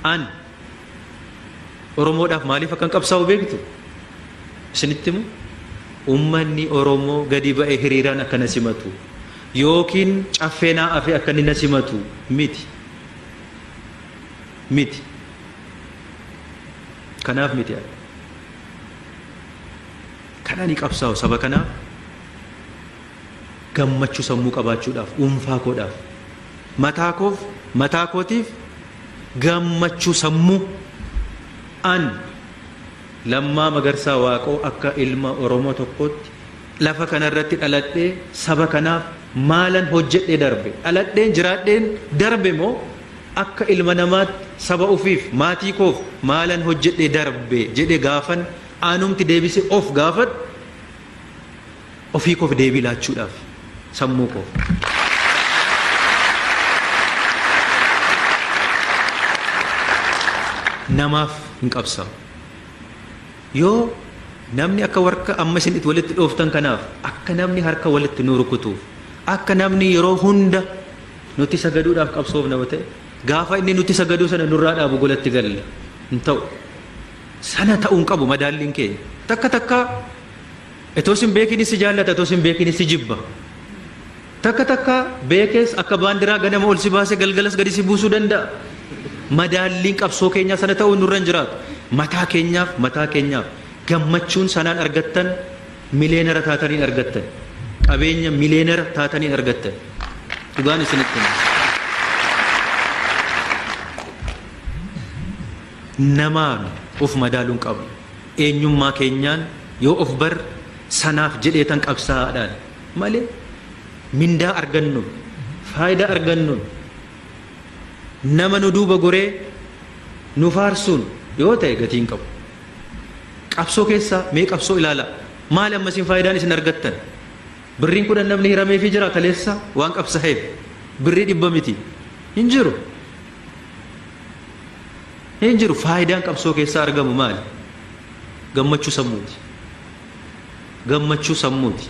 An Oromoodhaaf maaliif akkan qabsaa'u beektu? Isinitti immoo uummanni Oromoo gadi ba'e hiriiraan akka na simatu yookiin caffee naa afe akka inni na simatu miti. Miti. Kanaaf miti ani. Kan ani qabsaa'u saba kanaaf Gammachuu sammuu qabaachuudhaaf, dhuunfaa koodhaaf, mataa koof, mataa kootiif gammachuu sammuu an Lammaa Magarsaa Waaqoo akka ilma Oromoo tokkootti lafa kana irratti dhaladhee saba kanaaf maalan hojjedhee darbe? Dhaladheen jiraadheen darbe moo akka ilma namaatti saba ofiif, maatii koof maalan hojjedhee darbe jedhee gaafan anumti deebisee of gaafadhu, Ofii koof deebii laachuudhaaf sammuu koo. namaaf hin qabsaa'u. Yoo namni akka warka amma isin itti walitti dhooftan kanaaf akka namni harka walitti nu rukutuuf akka namni yeroo hunda nuti sagaduudhaaf qabsoofna yoo ta'e gaafa inni nuti sagaduu sana nurraa dhaabu golatti galla hin ta'u. Sana ta'uu hin qabu madaalliin keenya. Takka takka Itoo sin beekinis si jaallata itoo sin beekinis si jibba. Takka takka beekees akka baandiraa ganama ol si baase galgalas gadi si buusuu danda'a. Madaalliin qabsoo keenyaa sana ta'uu nurra hin jiraatu. Mataa keenyaaf mataa keenyaaf gammachuun sanaan argattan mileenara taatanii hin argattan. Qabeenya mileenara taatanii hin argattan. Dhugaan isinitti hima. namaan of madaaluu hin qabnu. Eenyummaa keenyaan yoo of barre sanaaf jedheetan qabsaa'aadhaan malee mindaa argannuun, faayidaa argannuun, nama nu duuba goree nu faarsuun yoo ta'e gatii hin qabu. Qabsoo keessaa mee qabsoo ilaalaa. Maali amma isin faayidaan isin argattan? Birriin kudhan namni hirameefii jira kaleessa waan qabsaa'eef. Birrii dhibba miti. Hin jiru. Hin jiru faayidaan qabsoo keessaa argamu maali? Gammachuu sammuuti. Gammachuu sammuuti.